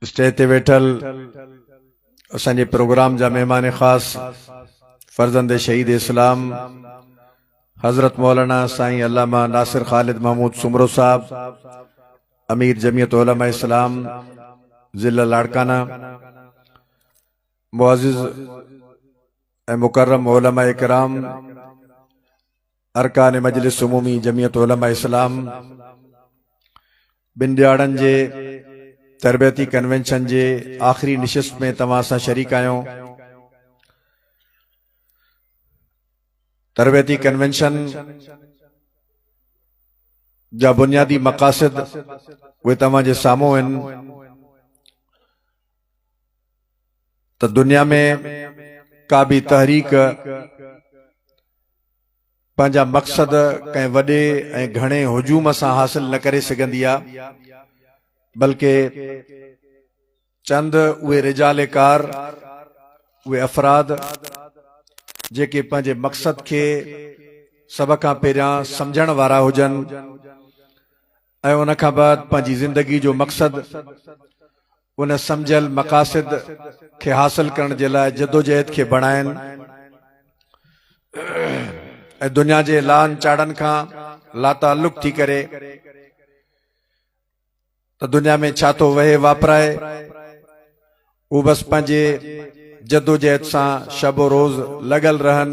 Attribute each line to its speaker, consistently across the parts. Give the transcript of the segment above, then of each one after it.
Speaker 1: Stage تي ويٺل اسان جي پروگرام جا مهمان خاص فرزند شهيد اسلام حضرت مولانا سائين علامه ناصر خالد محمود سمرو صاحب امیر جمعیت علماء اسلام ضلع لاڑکانہ معزز مکرم علماء کرام ارڪان مجلس عمومي جمعيت علماء اسلام ٻن ڏهاڙن جي تربيتي ڪنوينشن جي آخري نشست ۾ توهان سان شريڪ آهيون تربيتي ڪنوينشن جا بنيادي مقاصد اهي توهان جي سامهون آهن ته دنيا ۾ ڪا به تحريڪ پنهنجا مقصد ڪنهن وڏي ۽ گهڻي هجوم سان حاصل نه ڪري سگهندي آ بلڪه چند اهي رجال ڪار اهي افراد جيڪي پنهنجي مقصد کي سڀ کان پهريان سمجهڻ وارا هجن ۽ ان کان بعد پنهنجي زندگي جو مقصد ان سمجهيل مقاصد کي حاصل ڪرڻ جي لاء جدوجهد کي بڻائين ۽ دنيا جي لان چاڙهن کان لاتعلق ٿي ڪري ته دنيا ۾ ڇا ٿو وهي واپرائي هو بس پنهنجي جدوجهد سان شب و روز لڳل رهن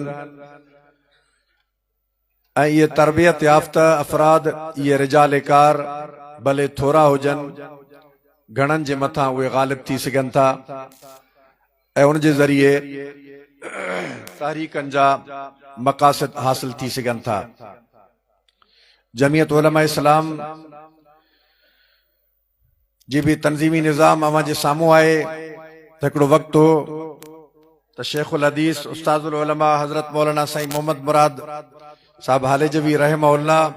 Speaker 1: اهي تربيت يافته افراد اهي رجال ڪار ڀلي ٿورا هجن گهڻن جي مٿان اهي غالب ٿي سگهن ٿا ۽ ان جي ذريعي تحريڪن جا مقاصد حاصل ٿي سگهن ٿا جمعيت علماء اسلام جي به تنظيمي نظام اوهان جي سامهون آهي ته هڪڙو وقت هو ته شيخ الحديث استاد العلماء حضرت مولانا سائين محمد مراد صاحب هاليجوي رحمه الله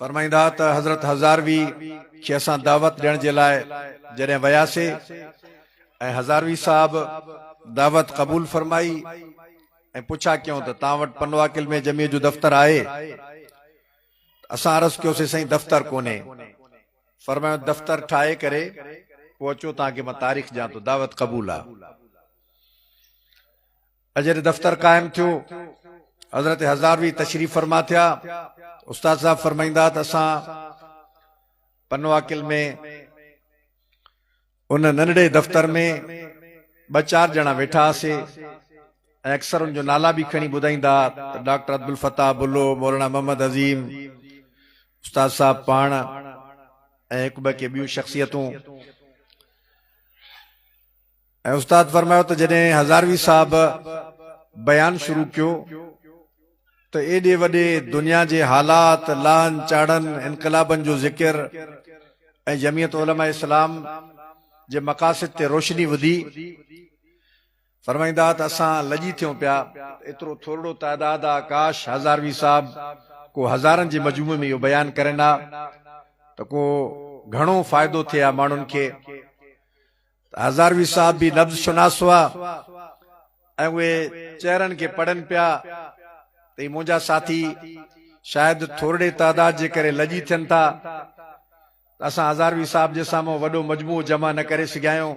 Speaker 1: فرمائيندا ته حضرت هزاروي کي اسان دعوت ڏيڻ جي لاء جڏهن وياسي ۽ هزاروي صاحب دعوت قبول فرمائي ۽ پڇا ڪيون ته تان وٽ پنواڪل ۾ جميع جو دفتر آهي اسان عرض ڪيوسين سائين دفتر ڪونهي. فرمايائون دفتر ٺاهي ڪري پوء اچو توهان کي مان تاريخ ڏيان ٿو. دعوت قبول آ. اڄ جڏهن دفتر قائم ٿيو حضرت هزاروي تشريف فرما ٿيا استاد صاحب فرمائيندا ته اسان پنواڪل ۾ ان ننڍڙي دفتر ۾ ٻه چار ڄڻا ويٺا هئاسي ۽ اڪثر ان جو نالا به کڻي ٻڌائيندا ته ڊاڪٽر عبدالفتاح بلو، مولانا محمد عظيم، استاد صاحب پاڻ ۽ هڪ ٻه ڪي ٻيون شخصيتون. ۽ استاد فرمايو ته جڏهن هزاروي صاحب بيان شروع ڪيو. ته ايڏي وڏي دنيا جي حالات، لاهن چاڙهن، انقلابن جو ذڪر ۽ جمعيت علماء اسلام جي مقاصد تي روشني وڌي. فرمائيندا ته اسان لڄي ٿيون پيا ته ايترو ٿورڙو تعداد آ، ڪاش هزاروي صاحب ڪو هزارن جي مجموعي ۾ اهو بيان ڪرين ها ته ڪو گهڻو فائدو ٿئي ها ماڻهن کي. هزاروي صاحب به نبض شناس هئا ۽ اهي چهرن کي پڙهن پيا ته هي منهنجا ساٿي شايد ٿورڙي تعداد جي ڪري لڄي ٿين ٿا ته اسان هزاروي صاحب جي سامهون وڏو مجموعو جمع نه ڪري سگهيايون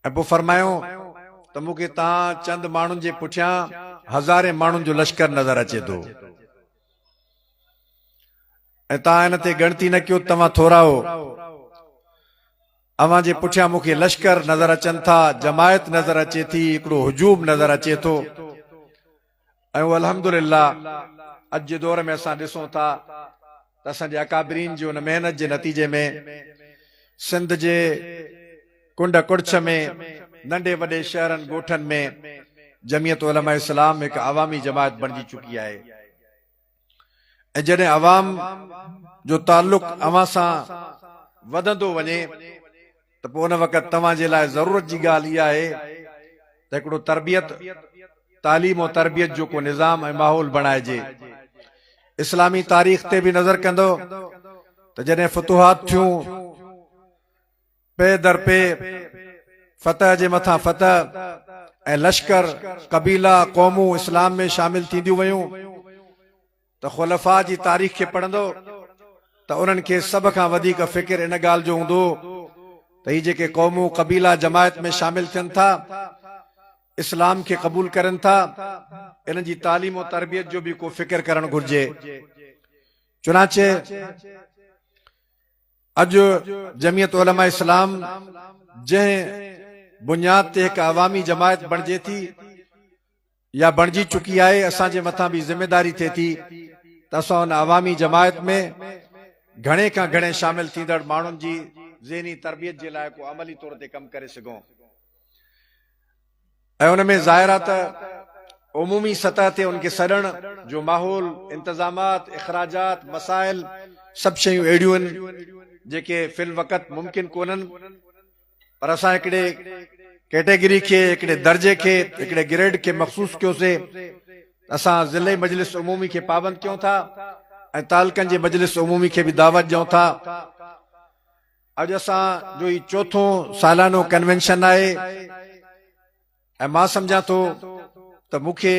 Speaker 1: ۽ پوء فرمايون ته مون کي توهان چند ماڻهن جي پٺيان هزارين ماڻهن جو لشڪر نظر اچي ٿو ۽ توهان هن تي ڳڻتي نه ڪيو ته توهان ٿورا هو. اوهان جي پٺيان مون کي لشڪر نظر اچن ٿا، جماعت نظر اچي ٿي، هڪڙو هجوم نظر اچي ٿو ۽ اهو الحمد لله اڄ جي دور ۾ اسان ڏسون ٿا ته اسان جي اڪابرين جي ان محنت جي نتيجي ۾ سنڌ جي ڪنڊ ڪڙڇ ۾ ننڍي وڏي شهرن ڳوٺن ۾ جميعت علماء اسلام هڪ عوامي جماعت بڻجي چڪي آهي. ۽ جڏهن عوام جو تعلق اوهان سان وڌندو وڃي ته پوء ان وقت توهان جي لاء ضرورت جي ڳالهه اها آهي ته هڪڙو تربيت، تعليم ۽ تربيت جو ڪو نظام ۽ ماحول بڻائجي. اسلامي تاريخ تي به نظر ڪندؤ ته جڏهن فتوحات ٿيون، پير در پير فتح جي مٿان فتح ۽ لشڪر، قبيلا، قومون اسلام ۾ شامل ٿينديون ويون ته خلفاء جي تاريخ کي پڙهندؤ ته انهن کي سڀ کان وڌيڪ فڪر ان ڳالهه جو هوندو هو ته هي جيڪي قومون، قبيلا جماعت ۾ شامل ٿين ٿا، اسلام کي قبول ڪرين ٿا، انهن جي تعليم و تربيت جو به ڪو فڪر ڪرڻ گهرجي. چنانچه. اڄ جمعيت علماء اسلام جنهن بنياد تي هڪ عوامي جماعت بڻجي ٿي يا بڻجي چڪي آهي اسان جي مٿان به ذميداري ٿئي ٿي ته اسان ان عوامي جماعت ۾ گهڻي کان گهڻي شامل ٿيندڙ ماڻهن جي ذهني تربيت جي لاء ڪو عملي طور تي ڪم ڪري سگهون. ۽ ان ۾ ظاهر آهي ته عمومي سطح تي ان کي سڏڻ جو ماحول، انتظامات، اخراجات، مسائل سڀ شيون اهڙيون آهن جيڪي في الوقت ممڪن ڪونهن پر اسان هڪڙي ڪيٽيگري کي، هڪڙي درجي کي، هڪڙي گريڊ کي مخصوص ڪيوسي ته اسان ضلعي مجلس عمومي کي پابند ڪيون ٿا ۽ تعلقن جي مجلس عمومي کي به دعوت ڏيون ٿا اڄ اسان جو هي چوٿون سالانو ڪنوينشن آهي ۽ مان سمجهان ٿو ته مون کي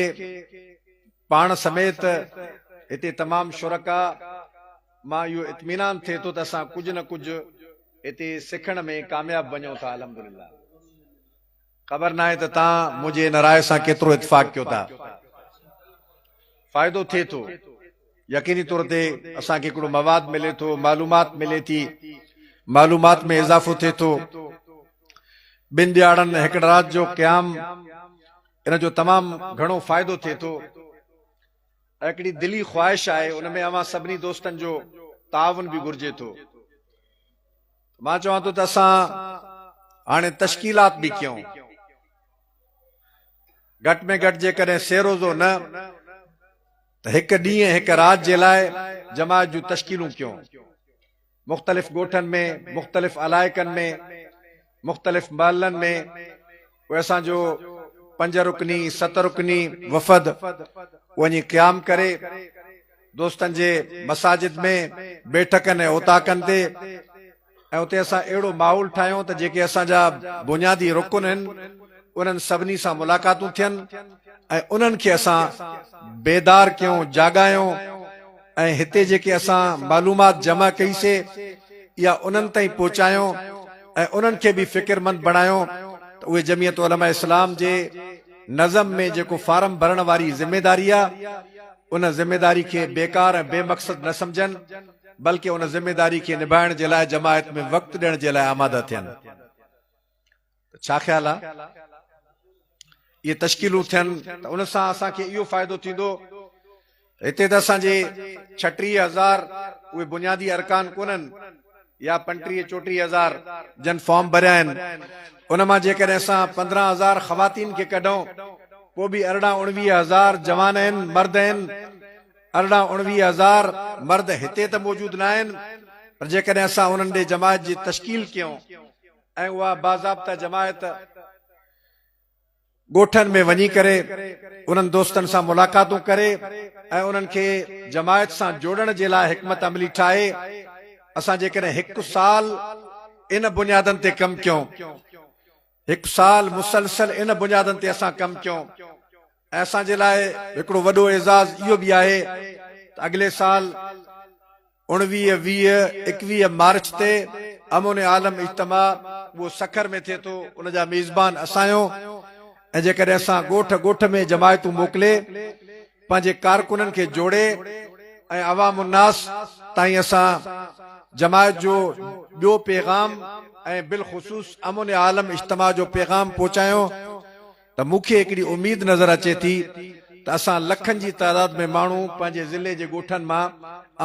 Speaker 1: پاڻ سميت هتي تمام شرڪاء مان اهو اطمينان ٿئي ٿو ته اسان ڪجهه نه ڪجهه هتي سکڻ ۾ ڪامياب وڃون ٿا الحمدلله. خبر ناهي ته تان منهنجي ان راء سان ڪيترو اتفاق ڪيو ٿا. فائدو ٿئي ٿو. يقيني طور تي اسان کي هڪڙو مواد ملي ٿو، معلومات ملي ٿي، معلومات ۾ اضافو ٿئي ٿو. ٻن ڏيهاڙن هڪڙ رات جو قيام ان جو تمام گهڻو فائدو ٿئي ٿو. هڪڙي دلي خواهش آهي ان ۾ اوهان سڀني دوستن جو تعاون به گهرجي ٿو. مان چوان ٿو ته اسان هاڻي تشڪيلات به ڪيون. گهٽ ۾ گهٽ جيڪڏهن سي روزو نه ته هڪ ڏينهن هڪ رات جي لاء جماعت جون تشڪيلون ڪيون. مختلف ڳوٺن ۾، مختلف علائقن ۾، مختلف محلن ۾، پوء اسان جو پنج رڪني ست رڪني وفد وڃي قيام ڪري دوستن جي مساجد ۾ بيٺڪن ۽ اوطاقن تي ۽ اتي اسان اهڙو ماحول ٺاهيون ته جيڪي اسان جا بنيادي رڪن آهن انهن سڀني سان ملاقاتون ٿين ۽ انهن کي اسان بيدار ڪيون جاڳايون ۽ هتي جيڪي اسان معلومات جمع ڪئي سي اها انهن تائين پهچايون ۽ انهن کي به فڪرمند بڻايون ته اهي جمعيت علماء اسلام جي نظم ۾ جيڪو فارم ڀرڻ واري ذميداري آ ان ذميداري کي بيڪار ۽ بي مقصد نه سمجهن بلڪه ان ذميداري کي نڀائڻ جي لاء جماعت ۾ وقت ڏيڻ جي لاء آماده ٿين. ته ڇا خيال آ؟ اهي تشڪيلون ٿين ته ان سان اسان کي اهو فائدو ٿيندو هتي ته اسان جي ڇٽيهه هزار اهي بنيادي ارڪان ڪونهن يا پنٽيهه چوٽيهه هزار جن فارم ڀريا آهن ان مان جيڪڏهن اسان پندرهن هزار خواتين کي ڪڍون پوء به ارڙهن اڻويهه هزار جوان آهن مرد آهن ارڙهن اڻويهه هزار مرد هتي ته موجود ناهن پر جيڪڏهن اسان انهن ڏي جماعت جي تشڪيل ڪيون ۽ اها باضابطه جماعت ڳوٺن ۾ وڃي ڪري انهن دوستن سان ملاقاتون ڪري ۽ انهن کي جماعت سان جوڙڻ جي لاء حڪمت عملي ٺاهي. اسان جيڪڏهن هڪ سال ان بنيادن تي ڪم ڪيون، هڪ سال مسلسل ان بنيادن تي اسان ڪم ڪيون، ۽ اسان جي لاء هڪڙو وڏو اعزاز اهو به آهي ته اڳلي سال اوڻويهه، ويهه، ايڪويهه مارچ تي امون عالم اجتماع اهو سکر ۾ ٿئي ٿو ان جا ميزبان اسان آهيون ۽ جيڪڏهن اسان ڳوٺ ڳوٺ ۾ جماعتون موڪلي پنهنجي ڪارڪنن کي جوڙي ۽ عوام الناس تائين اسان جماعت جو ٻيو پيغام ۽ بالخصوص امون عالم اجتماع جو پيغام پهچايون ته مون کي هڪڙي اميد نظر اچي ٿي ته اسان لکن جي تعداد ۾ ماڻهو پنهنجي ضلعي جي ڳوٺن مان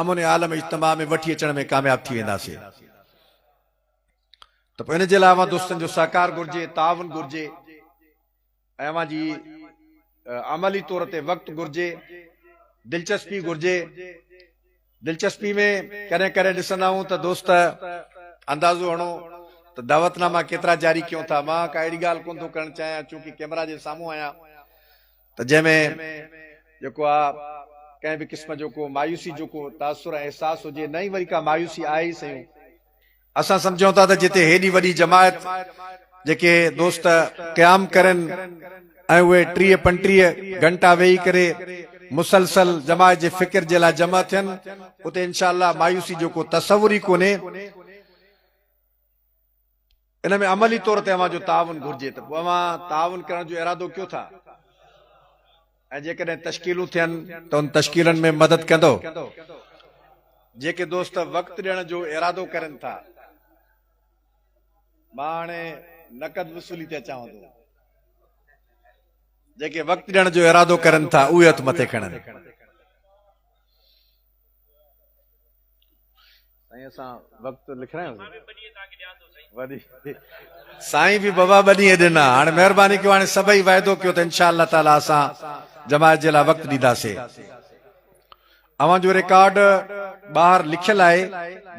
Speaker 1: امن عالم اجتماع ۾ وٺي اچڻ ۾ ڪامياب ٿي وينداسين ته پوء ان جي لاء اوهان دوستن جو سهڪار گهرجي، تعاون گهرجي ۽ اوهان جي عملي طور تي وقت گهرجي، دلچسپي گهرجي. دلچسپي ۾ ڪڏهن ڪڏهن ڏسندا آهيون ته دوست اندازو هڻو ته دعوت ناما ڪيترا جاري ڪيون ٿا. مان ڪا اهڙي ڳالهه ڪونه ٿو ڪرڻ چاهيان چونڪه ڪئميرا جي سامهون آهيان ته جنهن ۾ جيڪو آ ڪنهن به قسم جو ڪو مايوسي جو ڪو تاثر ۽ احساس هجي نه ئي وري ڪا مايوسي آهي ئي سهيون. اسان سمجهون ٿا ته جتي هيڏي وڏي جماعت جيڪي دوست قيام ڪرين ۽ اهي ٽيهه پنٽيهه گهنٽا ويهي ڪري مسلسل جماعت جي فڪر جي لاء جمع ٿين اتي انشاء الله مايوسي جو ڪو تصور ئي ڪونهي. ان ۾ عملي طور تي اوهان جو تعاون گهرجي ته پوء اوهان تعاون ڪرڻ جو ارادو ڪيو ٿا؟ ۽ جيڪڏهن تشڪيلون ٿين ته ان تشڪيلن ۾ مدد ڪندو. جيڪي دوست وقت ڏيڻ جو ارادو ڪرين ٿا. مان هاڻي نقد وصولي تي اچان ٿو. جيڪي وقت ڏيڻ جو ارادو ڪرين ٿا اهي هٿ مٿي کڻن. سائين به بابا ٻه ڏينهن ڏنا هاڻي مهرباني ڪيو هاڻي سڀئي وعدو ڪيو ته انشاء الله تعالي اسان جماعت جي لاء وقت ڏينداسي اوهان جو ريڪارڊ ٻاهر لکيل آهي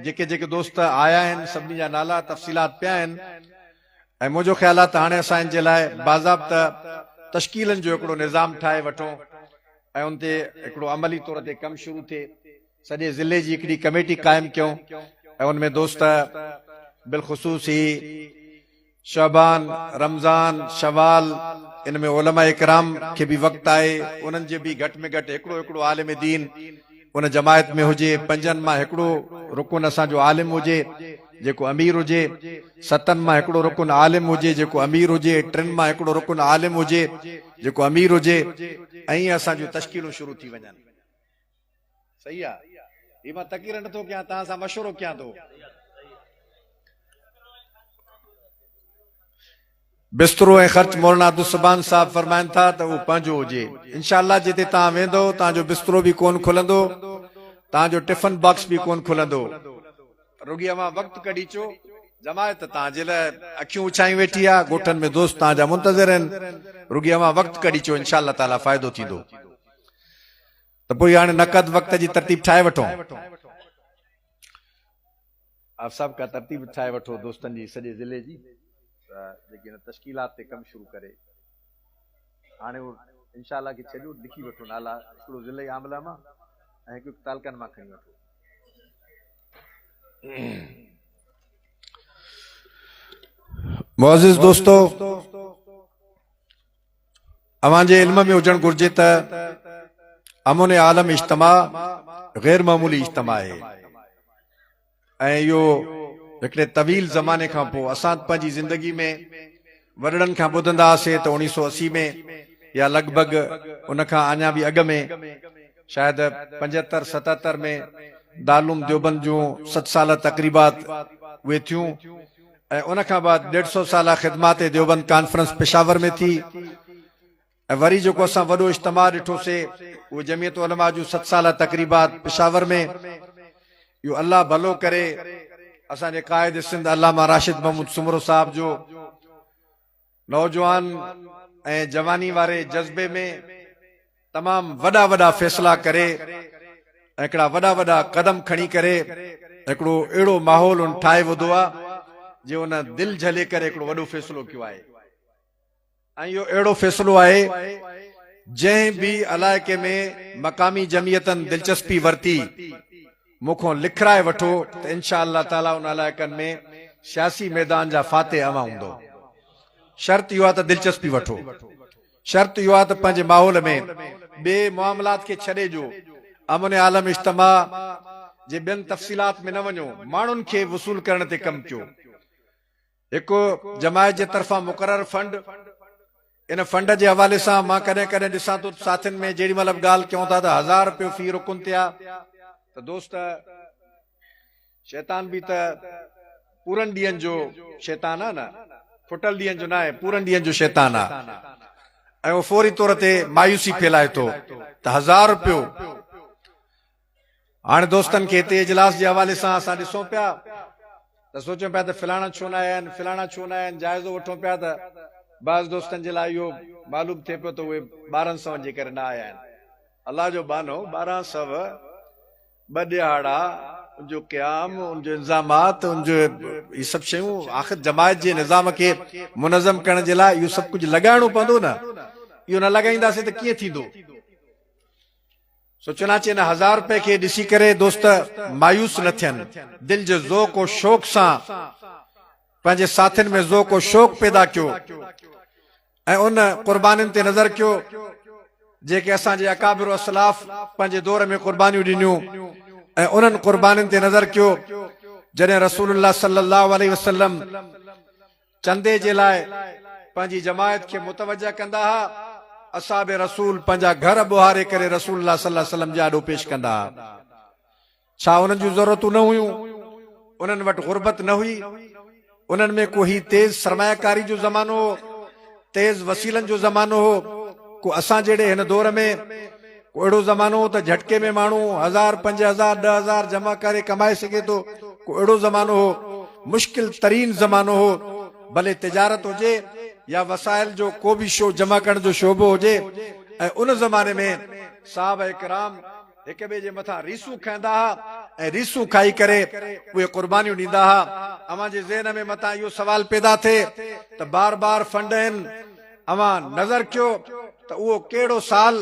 Speaker 1: جيڪي جيڪي دوست آيا آهن سڀني جا نالا تفصيلات پيا آهن ۽ منهنجو خيال آهي ته هاڻي اسان ان جي لاء باضابطه تشڪيلن جو هڪڙو نظام ٺاهي وٺون ۽ ان تي هڪڙو عملي طور تي ڪم شروع ٿئي. سڄي ضلعي جي هڪڙي ڪميٽي قائم ڪيون ۽ ان ۾ دوست بالخصوص هي شعبان، رمضان، شوال ان ۾ علماء ڪرام کي به وقت آهي انهن جي به گهٽ ۾ گهٽ هڪڙو هڪڙو عالم دين، ان جماعت ۾ هجي پنجن مان هڪڙو رڪن اسان جو عالم هجي جيڪو امير هجي، ستن مان هڪڙو رڪن عالم هجي جيڪو امير هجي، ٽن مان هڪڙو رڪن عالم هجي جيڪو امير هجي ائين اسان جون تشڪيلون شروع ٿي وڃن. صحيح آ هي مان تقرير نه ٿو ڪيان توهان سان مشورو ڪيان ٿو. بسترو ۽ خرچ مولانا عبدالسبحان صاحب فرمائن ٿا ته اهو پنهنجو هجي انشاء الله جتي توهان ويندو توهان جو بسترو به ڪون کلندو توهان جو ٽفن باڪس به ڪون کلندو رڳي اوهان وقت ڪڍي اچو جماعت توهان جي لاء اکيون اڇايون ويٺي آهي ڳوٺن ۾ دوست توهان جا منتظر آهن رڳي اوهان وقت ڪڍي اچو انشاء الله تعالي فائدو ٿيندو ته پوء هاڻي نقد وقت جي ترتيب ٺاهي وٺون آپ صاحب ڪا ترتيب ٺاهي وٺو دوستن جي سڄي ضلعي جي ته جيڪي ان تشڪيلات تي ڪم شروع ڪري هاڻي هو انشاء الله کي ڇڏيو لکي وٺو نالا هڪڙو ضلعي عامله مان ۽ هڪ هڪ تعلقن مان کڻي وٺو معزز دوستو اوهان جي علم ۾ هجڻ گهرجي ته امن عالم اجتماع غير معمولي اجتماع آهي ۽ اهو هڪڙي طويل زماني کان پوء اسان پنهنجي زندگي ۾ وڏڙن کان ٻڌندا هئاسين ته اوڻيهه سؤ اسي ۾ يا لڳ ڀڳ ان کان اڃا به اڳ ۾ شايد پنجهتر ستهتر ۾ دارالعلوم ديوبند جون ست ساله تقريبات اهي ٿيون ۽ ان کان بعد ڏيڍ سؤ سالا خدمات ديوبند ڪانفرنس پشاور ۾ ٿي ۽ وري جيڪو اسان وڏو اجتماع ڏٺو سي اهو جمعيت علماء جون ست سالا تقريبات پشاور ۾ اهو الله ڀلو ڪري اسان جي قائد سنڌ علامه راشد محمود سومرو صاحب جو نوجوان ۽ جواني واري جذبي ۾ تمام وڏا وڏا فيصلا ڪري ۽ هڪڙا وڏا وڏا قدم کڻي ڪري هڪڙو اهڙو ماحول ان ٺاهي وڌو آ جي ان دل جهلي ڪري هڪڙو وڏو فيصلو ڪيو آهي ۽ اهو اهڙو فيصلو آهي جنهن به علائقي ۾ مقامي جمعيتن دلچسپي ورتي مون کان لکرائي وٺو ته انشاء الله تعاليٰ ان علائقن ۾ سياسي ميدان جا فاتح اوهان هوندؤ. شرط اهو آهي ته دلچسپي وٺو. شرط اهو آهي ته پنهنجي ماحول ۾ ٻئي معاملات کي ڇڏي جو امن عالم اجتماع جي ٻين تفصيلات ۾ نه وڃو ماڻهن کي وصول ڪرڻ تي ڪم ڪيو. هڪ جماعت جي طرفان مقرر فنڊ، ان فنڊ جي حوالي سان مان ڪڏهن ڪڏهن ڏسان ٿو ته ساٿين ۾ جيڏي مهل به ڳالهه ڪيون ٿا ته هزار رپيو في رڪن تي آ ته دوست شيطان به ته پورن ڏينهن جو شيطان آ نه ڦٽل ڏينهن جو ناهي پورن ڏينهن جو شيطان آ ۽ اهو فوري طور تي مايوسي ڦيلائي ٿو ته هزار رپيو هاڻ دوستن کي هتي اجلاس جي حوالي سان اسان ڏسون پيا ته سوچون پيا ته فلاڻا ڇو نه آيا آهن فلاڻا ڇو نه آيا آهن جائزو وٺون پيا ته بعض دوستن جي لاء اهو معلوم ٿئي پيو ته اهي ٻارهن سون جي ڪري نه آيا آهن الله جو ٻانهو ٻارهن سو ٻه ڏهاڙا ان جو قيام ان جو انظامات ان جو هي سڀ شيون آخر جماعت جي نظام کي منظم ڪرڻ جي لاء اهو سڀ ڪجهه لڳائڻو پوندو نه اهو نه لڳائينداسين ته ڪيئن ٿيندو سو چنانچه ان هزار روپيه کي ڏسي ڪري دوست مايوس نه ٿين، دل جي ذوق و شوق سان پنهنجي ساٿين ۾ ذوق و شوق پيدا ڪيو ۽ ان قربانين تي نظر ڪيو جيڪي اسان جي اڪابر اسلاف پنهنجي دور ۾ قربانيون ڏنيون ۽ انهن قربانين تي نظر ڪيو جڏهن رسول الله صلي الله عليه وسلم چندي جي لاء پنهنجي جماعت کي متوجه ڪندا ها، اصحاب رسول پنهنجا گهر ٻوهاري ڪري رسول الله صلي الله عليه وسلم جي آڏو پيش ڪندا ها. ڇا انهن جون ضرورتون نه هيون؟ انهن وٽ غربت نه هئي؟ انهن ۾ ڪو هي تيز سرمايه ڪاري جو زمانو هو؟ تيز وسيلن جو زمانو هو، ڪو اسان جهڙي هن دور ۾، ڪو اهڙو زمانو هو ته جهٽڪي ۾ ماڻهو هزار، پنج هزار، ڏهه هزار جمع ڪري ڪمائي سگهي ٿو، ڪو اهڙو زمانو هو، مشڪل ترين زمانو هو، ڀلي تجارت هجي يا وسائل جو ڪو به شو جمع ڪرڻ جو شعبو هجي ۽ ان زماني ۾ صحابه ڪرام، هڪ ٻئي جي مٿان ريسون کنئندا ها ۽ ريسون کائي ڪري اهي قربانيون ڏيندا ها. اوهان جي ذهن ۾ متان اهو سوال پيدا ٿئي ته بار بار فنڊ هن اوهان نظر ڪيو ته اهو ڪهڙو سال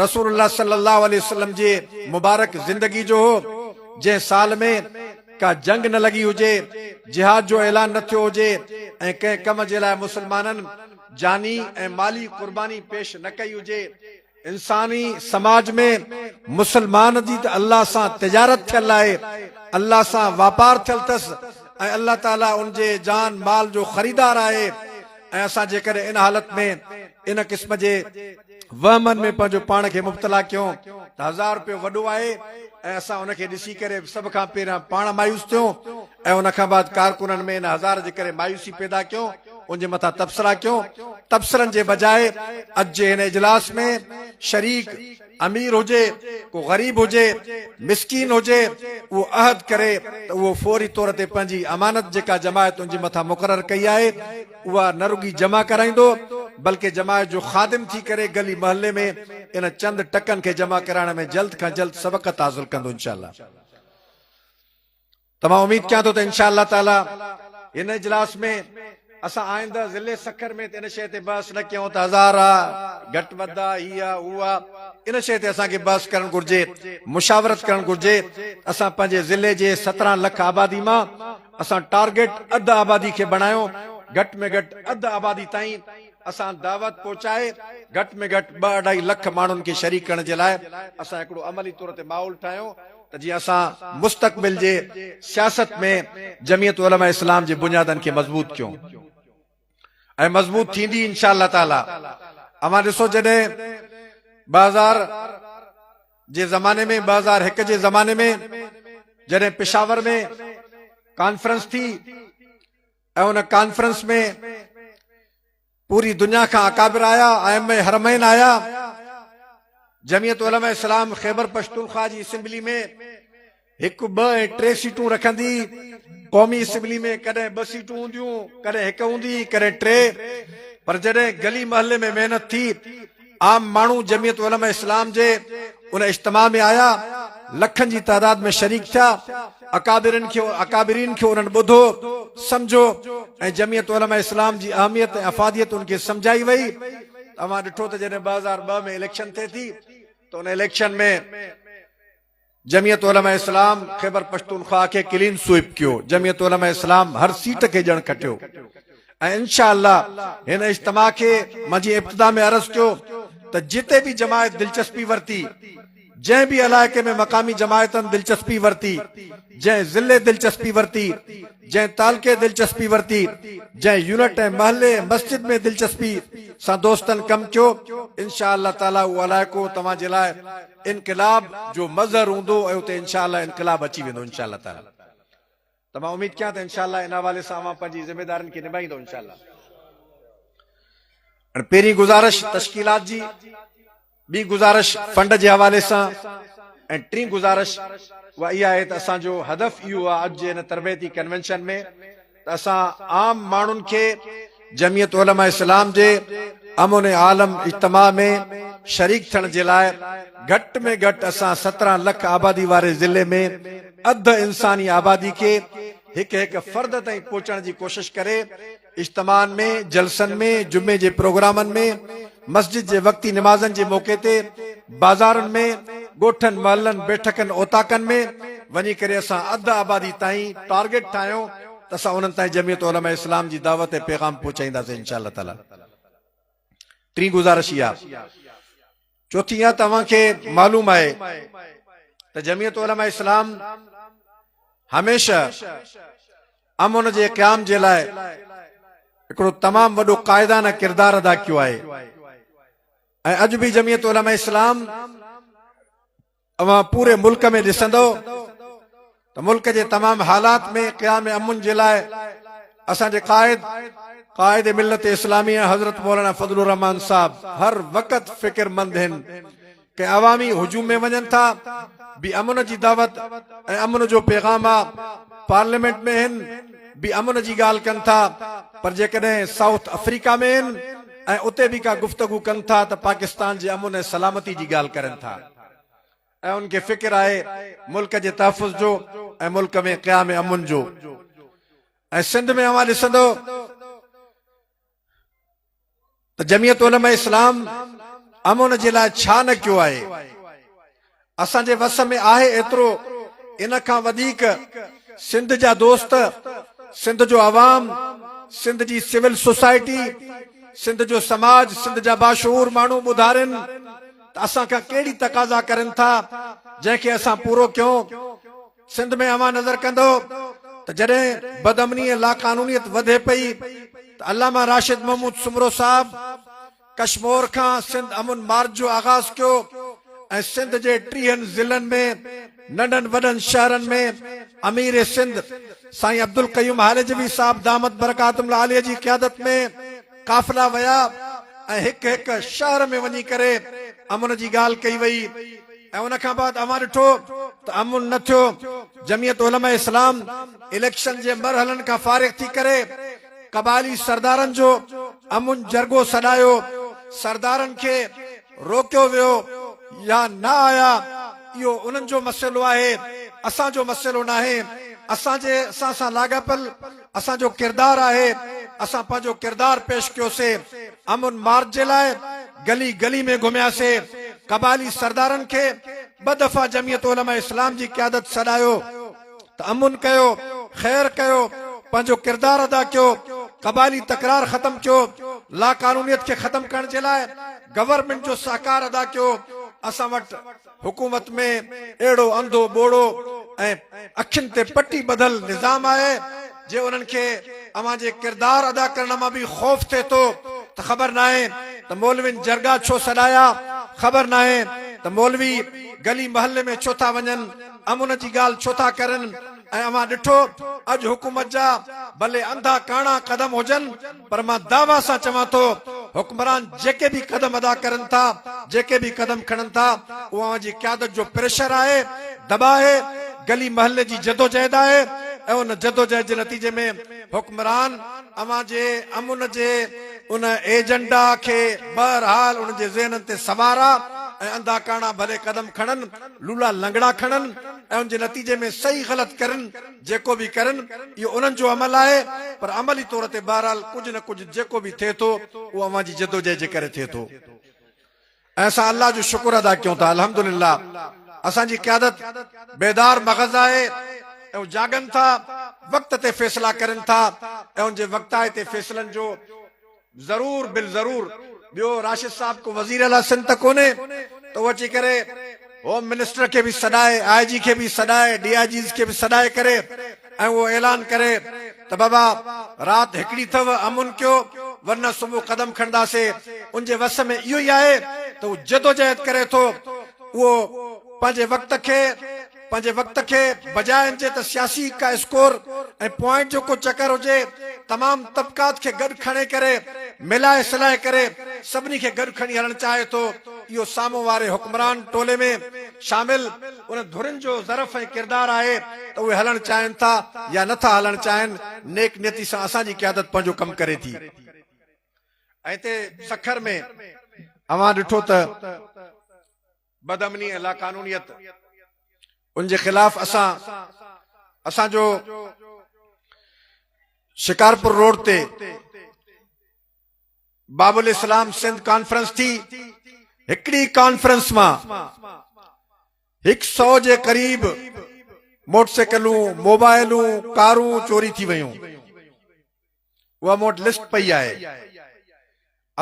Speaker 1: رسول الله صلي الله عليه وسلم جي مبارڪ زندگي جو هو جنهن سال ۾ ڪا جنگ نه لڳي هجي جهاد جو اعلان نه ٿيو هجي ۽ ڪنهن ڪم جي لاء مسلمانن جاني ۽ مالي قرباني پيش نه ڪئي هجي انساني سماج ۾ مسلمان جي ته الله سان تجارت ٿيل آهي، الله سان واپار ٿيل ٿس ۽ الله تعاليٰ ان جي جان مال جو خريدار آهي ۽ اسان جيڪڏهن ان حالت ۾ ان قسم جي وهمن ۾ پنهنجو پاڻ کي مبتلا ڪيون ته هزار روپيو وڏو آهي ۽ اسان ان کي ڏسي ڪري سڀ کان پهريان پاڻ مايوس ٿيون ۽ ان کان بعد ڪارڪنن ۾ ان هزار جي ڪري مايوسي پيدا ڪيو ان جي مٿان تبصرا ڪيو تبصرن جي بجاء اڄ جي هن اجلاس ۾ شريڪ امير هجي ڪو غريب هجي مسڪين هجي اهو عهد ڪري ته اهو فوري طور تي پنهنجي امانت جيڪا جماعت ان جي مٿان مقرر ڪئي آهي اها نه رڳي جمع ڪرائيندو بلڪه جماعت جو خادم ٿي ڪري گلي محلي ۾ ان چند ٽڪن کي جمع ڪرائڻ ۾ جلد کان جلد سبقت حاصل ڪندو انشاء الله. ته مان اميد ڪيان ٿو ته انشاء الله تعالي هن اجلاس ۾ اسان آئنده ضلعي سکر ۾ ته ان شيء تي بحث نه ڪيون ته هزار آ، گهٽ وڌ آ، هي آ، هو آ، ان شيء تي اسان کي بحث ڪرڻ گهرجي، مشاورت ڪرڻ گهرجي. اسان پنهنجي ضلعي جي سترهن لک آبادي مان اسان ٽارگيٽ اڌ آبادي کي بڻايون، گهٽ ۾ گهٽ اڌ آبادي تائين اسان دعوت پهچائي گهٽ ۾ گهٽ ٻه اڍائي لک ماڻهن کي شريڪ ڪرڻ جي لاء اسان هڪڙو عملي طور تي ماحول ٺاهيون، ته جيئن اسان مستقبل جي سياست ۾ جمعيت علماء اسلام جي بنيادن کي مضبوط ڪيون ۽ مضبوط ٿيندي انشاء الله تعاليٰ اوهان ڏسو جڏهن ٻه هزار جي زماني ۾ ٻه هزار هڪ جي زماني ۾ جڏهن پشاور ۾ ڪانفرنس ٿي ۽ ان ڪانفرنس ۾ پوري دنيا کان اڪابر آيا، ائمه حرمين آيا، جمعيت علماء اسلام خيبر پشتونخوا جي اسيمبلي ۾ هڪ، ٻه ۽ ٽي سيٽون رکندي، قومي اسيمبلي ۾ ڪڏهن ٻه سيٽون هونديون، ڪڏهن هڪ هوندي، ڪڏهن ٽي، پر جڏهن گلي محلي ۾ محنت ٿي، عام ماڻهو جمعيت علماء اسلام جي ان اجتماع ۾ آيا، لکن جي تعداد ۾ شريڪ ٿيا، اڪابرين کي انهن ٻڌو، سمجهو ۽ جمعيت علماء اسلام جي اهميت ۽ افاديت ان کي سمجهائي وئي ته اوهان ڏٺو ته جڏهن ٻه هزار ٻه ۾ اليڪشن ٿئي ٿي ته ان اليڪشن ۾ جمعيت علماء اسلام خيبرپشتونخواهه کي ڪلين سوئپ ڪيو، جمعيت علماء اسلام هر سيٽ کي ڄڻ کٽيو ۽ انشاء الله هن اجتماع کي مان جيئن ابتدا ۾ عرض ڪيو ته جتي به جماعت دلچسپي ورتي، جنهن به علائقي ۾ مقامي جماعتن دلچسپي ورتي، جنهن ضلعي دلچسپي ورتي، جنهن تعلقي دلچسپي ورتي، جنهن يونٽ ۽ محلي مسجد ۾ دلچسپي سان دوستن ڪم ڪيو، انشاء الله تعاليٰ اهو علائقو توهان جي لاء انقلاب جو مظهر هوندو ۽ اتي انشاء الله انقلاب اچي ويندو انشاء الله تعالي ته مان اميد ڪيان ته انشاء الله ان حوالي سان اوهان پنهنجي ذميدارين کي نباهيندو انشاء الله هاڻي پهرين گذارش تشڪيلات جي ٻي گذارش فنڊ جي حوالي سان ۽ ٽين گذارش اها اها آهي ته اسان جو هدف اهو آهي اڄ جي هن تربيتي ڪنوينشن ۾ ته اسان عام ماڻهن کي جمعيت علماء اسلام جي امن عالم اجتماع ۾ شريڪ ٿيڻ جي لاء گهٽ ۾ گهٽ اسان سترهن لک آبادي واري ضلعي ۾ اڌ انساني آبادي کي هڪ هڪ فرد تائين پهچڻ جي ڪوشش ڪري اجتماعن ۾ جلسن ۾ جمعي جي پروگرامن ۾ مسجد جي وقتي نمازن جي موقعي تي بازارن ۾، ڳوٺن، محلن، بيٺڪن، اوطاقن ۾ وڃي ڪري اسان اڌ آبادي تائين ٽارگيٽ ٺاهيو ته اسان انهن تائين جمعيت علماء اسلام جي دعوت ۽ پيغام پهچائينداسين ان شاء الله تعاليٰ ٽين گذارش اها چوٿين اها ته اوهان کي معلوم آهي ته جمعيت علماء اسلام هميشه امن جي قيام جي لاء هڪڙو تمام وڏو قائدانه ڪردار ادا ڪيو آهي ۽ اڄ به جميعت علماء اسلام اوهان پوري ملڪ ۾ ڏسندو ته ملڪ جي تمام حالات ۾ قيام امن جي لاء اسان جي قائد قائد ملت اسلامي حضرت مولانا فضل الرحمان صاحب هر وقت فڪر مند آهن ڪي عوامي هجوم ۾ وڃن ٿا به امن جي دعوت ۽ امن جو پيغام آ پارليمينٽ ۾ هن به امن جي ڳالهه ڪن ٿا پر جيڪڏهن سائوٿ افريڪا ۾ هن ۽ اتي به ڪا گفتگو ڪن ٿا ته پاڪستان جي امن ۽ سلامتي جي ڳالهه ڪرن ٿا ۽ ان کي فڪر آهي ملڪ جي تحفظ جو ۽ ملڪ ۾ قيام امن جو ۽ سنڌ ۾ اوهان ڏسندو ته جميعت علماء اسلام امن جي لاء ڇا نه ڪيو آهي. اسان جي وس ۾ آهي ايترو ان کان وڌيڪ سنڌ جا دوست، سنڌ جو عوام، سنڌ جي سول سوسائٽي، سنڌ جو سماج، سنڌ جا باشعور ماڻهو ٻڌارين ته اسان کان ڪهڙي تقاضا ڪرين ٿا جنهن کي اسان پورو ڪيون. سنڌ ۾ اوهان نظر ڪندؤ ته جڏهن بدامني ۽ لاقانونيت وڌي پئي ته علامه راشد محمود سومرو صاحب ڪشمور کان سنڌ امن مارچ جو آغاز ڪيو ۽ سنڌ جي ٽيهن ضلعن ۾ ننڍن وڏن شهرن ۾ امير سنڌ سائين عبدالقيوم هاليجوي صاحب دامت برڪاتهم العاليه جي قيادت ۾ قافلا ويا ۽ هڪ هڪ شهر ۾ وڃي ڪري امن جي ڳالهه ڪئي وئي ۽ ان کان بعد اوهان ڏٺو ته امن نه ٿيو جميعت علماء اسلام اليڪشن جي مرحلن کان فارغ ٿي ڪري قبائلي سردارن جو امن جرڳو سڏايو سردارن کي روڪيو ويو يا نه آيا اهو انهن جو مسئلو آهي اسان جو مسئلو ناهي اسان جي اسان سان لاڳاپيل اسان جو ڪردار آهي اسان پنهنجو ڪردار پيش ڪيوسي امن مارچ جي لاء گلي گلي ۾ گهمياسي قبائلي سردارن کي ٻه دفعا جميعت علماء اسلام جي قيادت سڏايو ته امن ڪيو خير ڪيو پنهنجو ڪردار ادا ڪيو قبائلي تڪرار ختم ڪيو لاقانونيت کي ختم ڪرڻ جي لاء گورنمينٽ جو سهڪار ادا ڪيو اسان وٽ حڪومت ۾ اهڙو انڌو ٻوڙو ۽ اکين تي پٽي ٻڌل نظام آهي جي انهن کي اوهان جي ڪردار ادا ڪرڻ مان به خوف ٿئي ٿو ته خبر ناهي ته مولوين جرڳا ڇو سڏايا خبر ناهي ته مولوي گلي محلي ۾ ڇو ٿا وڃن امن جي ڳالهه ڇو ٿا ڪرن ۽ اوهان ڏٺو اڄ حڪومت جا ڀلي انڌا ڪاڻا قدم هجن پر مان دعويٰ سان چوان ٿو حڪمران جيڪي به قدم ادا ڪرن ٿا، جيڪي به قدم کڻن ٿا، اهو اوهان جي قيادت جو پريشر آهي، دٻاء آهي، گلي محلي جي جدوجهد آهي ۽ ان جدوجهد جي نتيجي ۾ حڪمران اوهان جي امن جي ان ايجنڊا کي بهرحال انهن جي ذهنن تي سوارا ۽ انڌا ڪاڻا ڀلي قدم کڻن، لولا لنگڙا کڻن ۽ ان جي نتيجي ۾ صحيح غلط ڪرن، جيڪو به ڪرن اهو انهن جو عمل آهي پر عملي طور تي بهرحال ڪجهه نه ڪجهه جيڪو به ٿئي ٿو اهو اوهان جي جدوجهد جي ڪري ٿئي ٿو ۽ اسان الله جو شڪر ادا ڪيون ٿا الحمدلله اسان جي قيادت بيدار مغز آهي ۽ هو جاڳن ٿا وقت تي فيصلا ڪرن ٿا ۽ ان جي وقتائتي فيصلن جو ضرور بالضرور ٻيو راشد صاحب ڪو وزير اعليٰ سنڌ ته ڪونهي ته هو اچي ڪري هوم منسٽر کي به سڏائي آء جي کي به سڏائي ڊي آء جيز کي به سڏائي ڪري ۽ اهو اعلان ڪري ته بابا رات هڪڙي اٿو امن ڪيو ورنه صبح قدم کڻنداسي ان جي وس ۾ اهو ئي آهي ته هو جدوجهد ڪري ٿو اهو پنهنجي وقت کي پنهنجي وقت کي بجاء ان جي ته سياسي ڪا اسڪور ۽ پوائنٽ جو ڪو چڪر هجي، تمام طبقات کي گڏ کڻي ڪري، ملائي سلائي ڪري سڀني کي گڏ کڻي هلڻ چاهي ٿو، اهو سامهون واري حڪمران ٽولي ۾ شامل، انهن ڌرين جو ظرف ۽ ڪردار آهي ته اهي هلڻ چاهين ٿا يا نه ٿا هلڻ چاهين، نيڪ نيتي سان اسان جي قيادت پنهنجو ڪم ڪري ٿي ۽ هتي سکر ۾ اوهان ڏٺو ته. بد امني ۽ لاقانونيت ان جي خلاف اسان اسان جو شڪارپور روڊ تي باب الاسلام سنڌ ڪانفرنس ٿي هڪڙي ڪانفرنس مان هڪ سو جي قريب موٽر سائيڪلون موبائلون ڪارون چوري ٿي ويون اها مون وٽ لسٽ پئي آهي.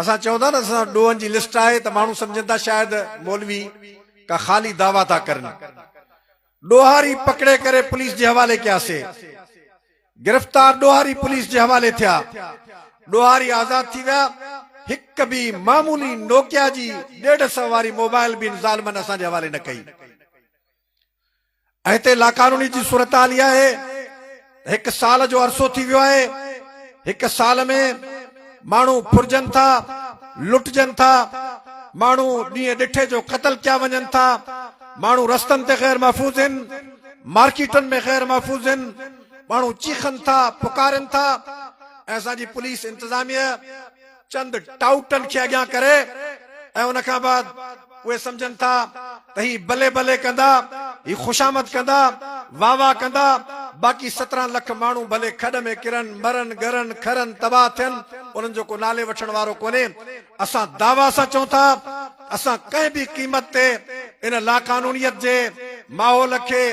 Speaker 1: اسان چئون ٿا نه اسان وٽ ڏوهن جي لسٽ آهي ته ماڻهو سمجهن ٿا شايد مولوي ڪا خالي دعويٰ ٿا ڪرن. ڏوهاري پڪڙي ڪري پوليس جي حوالي ڪياسي. گرفتار ڏوهاري پوليس جي حوالي ٿيا. ڏوهاري آزاد ٿي ويا. هڪ به معمولي نوڪيا جي ڏيڍ سئو واري موبائل به ان ظالمن اسان جي حوالي نه ڪئي. ۽ هتي لاقانوني جي صورتحال اها آهي ته هڪ سال جو عرصو ٿي ويو آهي، هڪ سال ۾ ماڻهو ڦرجن ٿا، لٽجن ٿا، ماڻهو ڏينهن ڏٺي جو قتل ڪيا وڃن ٿا، ماڻهو رستن تي غير محفوظ هن، مارڪيٽن ۾ غير محفوظ هن، ماڻهو چيخن ٿا، پڪارين ٿا ۽ اسان جي پوليس انتظاميه، چند ٽائوٽن کي اڳيان ڪري ۽ ان کان بعد اهي سمجهن ٿا ته هي بلي بلي ڪندا، هي خوشامد ڪندا، واهه واهه ڪندا، باقي سترهن لک ماڻهو ڀلي کڏ ۾ ڪرن، مرن، ڳرن، کرن، تباهه ٿين، انهن جو ڪو نالي وٺڻ وارو ڪونهي. اسان دعويٰ سان چئون ٿا. اسان ڪنهن به قيمت تي ان لاقانونيت جي ماحول کي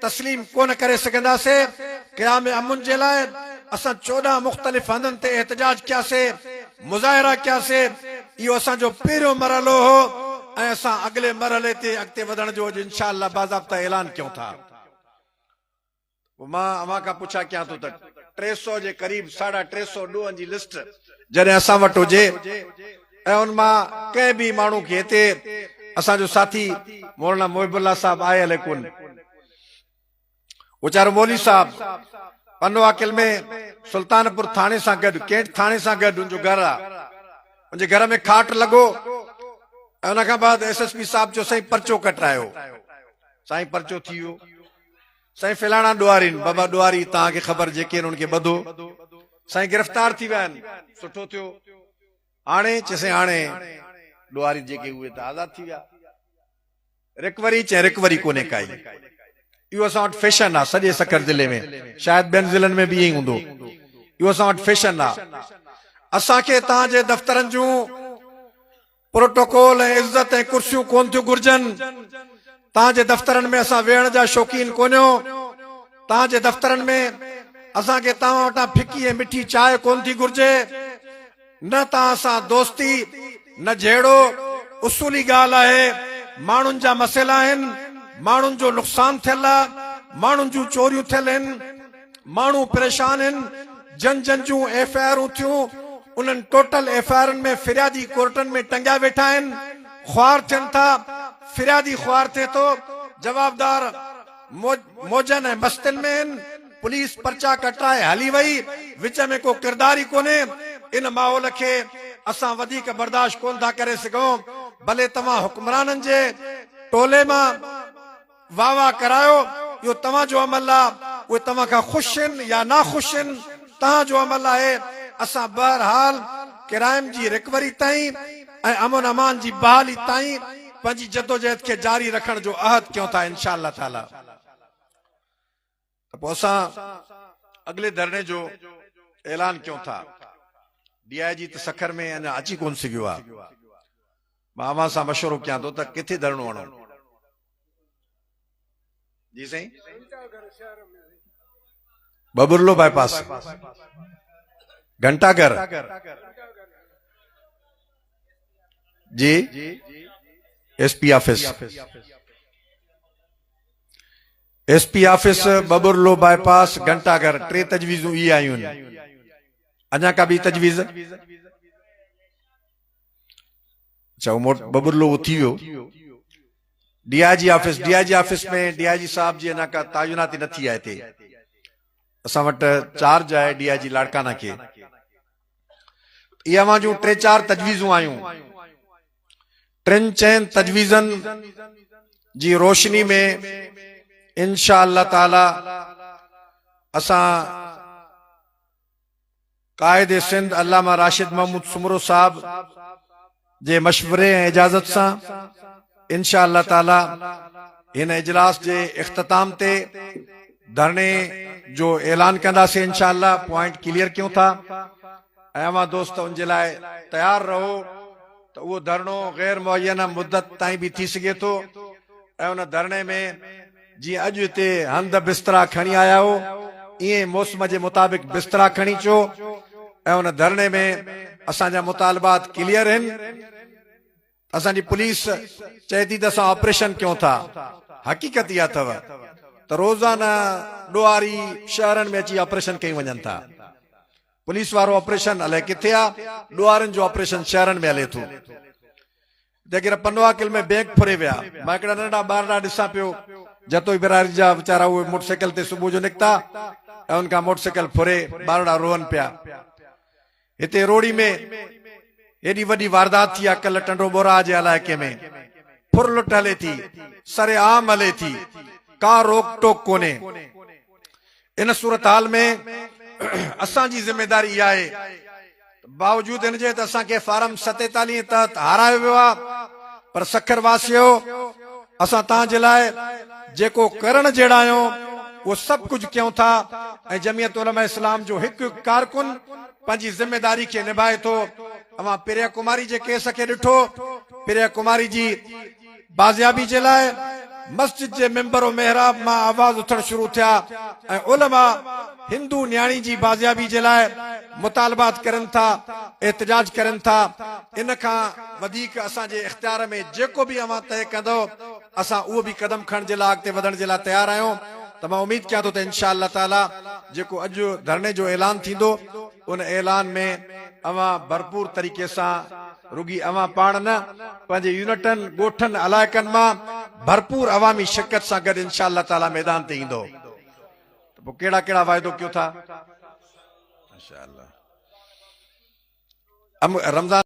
Speaker 1: تسليم ڪونه ڪري سگهنداسين، قيام امن جي لاء اسان چوڏهن مختلف هنڌن تي احتجاج ڪياسين، مظاهرا ڪياسين، اهو اسان جو پهريون مرحلو هو ۽ اسان اڳلي مرحلي تي اڳتي وڌڻ جو اڄ انشاء الله باضابطه اعلان ڪيون ٿا. پوء مان اوهان کان پڇا ڪيان ٿو ته ٽي سؤ جي قريب ساڍا ٽي سؤ ڏوهن جي لسٽ جڏهن اسان وٽ هجي ۽ ان مان ڪنهن به ماڻهو کي هتي اسان جو ساٿي مولانا محب الله صاحب آهي الئي ڪونه ويچارو مولوي صاحب پنو عاقل ۾ سلطان پور ٿاڻي سان گڏ ڪينٽ ٿاڻي سان گڏ ان جو گهر آ ان جي گهر ۾ کاٽ لڳو ان کان بعد ايس ايس پي صاحب چيو سائين پرچو ڪٽرايو سائين پرچو ٿي ويو سائين فلاڻا ڏوهارين بابا ڏوهاري توهان کي خبر جيڪي انهن کي ٻڌو سائين گرفتار ٿي ويا آهن سٺو ٿيو هاڻي چيسين هاڻي ڏوهاري جيڪي اهي ته آزاد ٿي ويا رڪوري چين رڪوري ڪونهي ڪائي اهو اسان وٽ فيشن آ سڄي سکر ضلعي ۾ شايد ٻين ضلعن ۾ به ائين هوندو اهو اسان وٽ فيشن آ اسان کي توهان جي دفترن جون پروٽوڪول ۽ عزت ۽ ڪرسيون ڪون ٿيون گهرجن، تان جي دفترن ۾ اسان ويهڻ جا شوقين ڪونهيو، تان جي دفترن ۾ اسان کي توهان وٽان ڦڪي ۽ مٺي چاهه ڪون ٿي گهرجي، نه توهان سان دوستي، نه جهيڙو، اصولي ڳالهه آهي، ماڻهن جا مسئلا آهن، ماڻهن جو نقصان ٿيل آ، ماڻهن جون چوريون ٿيل هن. ماڻهو پريشان هن جن جن جون ايف آء آرون ٿيون انهن ٽوٽل ايف آء آرن ۾ فريادي ڪورٽن ۾ ٽنگيا ويٺا آهن خوار ٿين ٿا فريادي خوار ٿئي ٿو جوابدار موجن ۽ مستين ۾ هن پوليس پرچا ڪٽرائي هلي وئي وچ ۾ ڪو ڪردار ئي ڪونهي ان ماحول کي اسان وڌيڪ برداشت ڪونه ٿا ڪري سگهون ڀلي توهان حڪمرانن جي ٽولي مان واهه واهه ڪرايو، اهو توهان جو عمل آ، اهي توهان کان خوش هن يا ناخوش هن، تهان جو عمل آهي، اسان بهرحال ڪرائيم جي رڪوري تائين ۽ امن امان جي بحالي تائين پنهنجي جدوجهد کي جاري رکڻ جو عهد ڪيون ٿا انشاء الله تعاليٰ. ته پوء اسان اڳلي ڌرڻي جو اعلان ڪيون ٿا. ڊي آء جي ته سکر ۾ اڃا اچي ڪونه سگهيو آهي. مان اوهان سان مشورو ڪيان ٿو ته ڪٿي ڌرڻو هڻون؟ جي سائين ببرلو باء پاس گھنٽا گھر جي S P office S P office, Babarlo bypass, گهنٽا گهر، ٽي تجويزون اهي آيون. اڃا ڪا ٻي تجويز؟ اچا هو موٽ ٻٻرلو اٿي ويو. D I G office, D I G office ۾ D I G صاحب جي اڃا ڪا تعيناتي نه ٿي آهي هتي. اسان وٽ چارج آهي ڊي آء جي لاڙڪانا کي. اهي اوهان جون ٽي چار تجويزون آيون. ٽن چئن تجويزن جي روشني ۾ انشاء الله تعالي اسان قائد سنڌ علامه راشد محمود سومرو صاحب جي مشوري ۽ اجازت سان ان شاء الله تعالي هن اجلاس جي اختتام تي ڌرڻي جو اعلان ڪنداسين ان شاء الله پوائنٽ ڪليئر ڪيون ٿا ۽ اوهان دوست ان جي لاء تيار رهو ته اهو ڌرڻو غير معينه مدت تائين به ٿي سگهي ٿو ۽ ان ڌرڻي ۾ جيئن اڄ هتي هنڌ بسترا کڻي آيا آهيو، ايئن ئي موسم جي مطابق بسترا کڻي اچو ۽ ان ڌرڻي ۾ اسان جا مطالبات ڪليئر هن. اسان جي پوليس چئي ٿي ته اسان آپريشن ڪيون ٿا، حقيقت اها اٿو ته روزانه ڏوهاري شهرن ۾ اچي آپريشن ڪيون وڃن ٿا. پوليس وارو آپريشن الائي ڪٿي آ، ڏوهارين جو آپريشن شهرن ۾ هلي ٿو. جيڪڏهن پنواڪل ۾ بيگ ڦري ويا. مان هڪڙا ننڍڙا ٻار ڏانهن ڏسان پيو. جتوئي برادري جا ويچارا اهي موٽر سائيڪل تي صبح جو نڪتا ۽ ان کان موٽر سائيڪل ڦري ٻارڙا روئن پيا. هتي روهڙي ۾ ايڏي وڏي واردات ٿي آهي ڪلهه ٽنڊو ٻوراهه جي علائقي ۾ ڦر لٽ هلي ٿي، سرعام هلي ٿي، ڪا روڪ ٽوڪ ڪونهي. ان صورتحال ۾ اسان جي ذميداري اها آهي ته باوجود ان جي ته اسان کي فارم ستيتاليهه تحت هارايو ويو آهي پر سکر واسيو اسان توهان جي لاء جيڪو ڪرڻ جهڙا آهيون اهو سڀ ڪجهه ڪيون ٿا ۽ جمعيت علماء اسلام جو هڪ هڪ ڪارڪن پنهنجي ذميداري کي نڀائي ٿو اوهان پريا ڪماري جي ڪيس کي ڏٺو پريا ڪماري جي بازيابي جي لاء مسجد جي ممبر و محراب مان آواز اٿڻ شروع ٿيا ۽ علماء هندو نياڻي جي بازيابي جي لاء مطالبات ڪرين ٿا، احتجاج ڪرين ٿا، ان کان وڌيڪ اسان جي اختيار ۾ جيڪو به اوهان طئي ڪندؤ اسان اهو به قدم کڻڻ جي لاء اڳتي وڌڻ جي لاء تيار آهيون ته مان اميد ڪيان ٿو ته انشاء الله تعاليٰ جيڪو اڄ ڌرڻي جو اعلان ٿيندو ان اعلان ۾ اوهان ڀرپور طريقي سان رڳي اوهان پاڻ نه، پنهنجي يونٽن، ڳوٺن، علائقن مان ڀرپور عوامي شرڪت سان گڏ انشاء الله تعالي ميدان تي ايندؤ ته پوء ڪهڙا ڪهڙا واعدو ڪيو ٿا؟ رمضان.